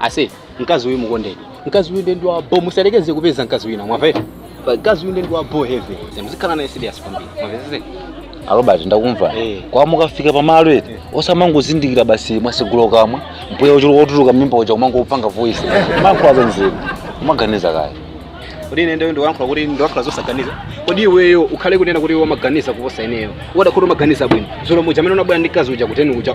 ase mkazi uyu mukondeni mkazi uyu nde ndi wa bo musayerekeze kupeza mkazi wina mwamva Pa- mkazi uyu nde ndi wa bo heavy muzikhala naye serious kwambiri mwamvesese arobert ndakumva Eh. kwa mukafika pamalo eti osamangozindikira basi mwatsegula kamwa mpweya uchuluka otuluka mimba uja umangopanga voice mankwaza nzeru umaganiza kaye kodi ine nde ndikuyankhula kuti ndiyankhula zosaganiza kodi iweyo ukhale kunena kuti umaganiza kuposa ineyo ukadakhala kuti umaganiza bwino dzulo muja amene unabwera ndi mkazi uja kuteni uja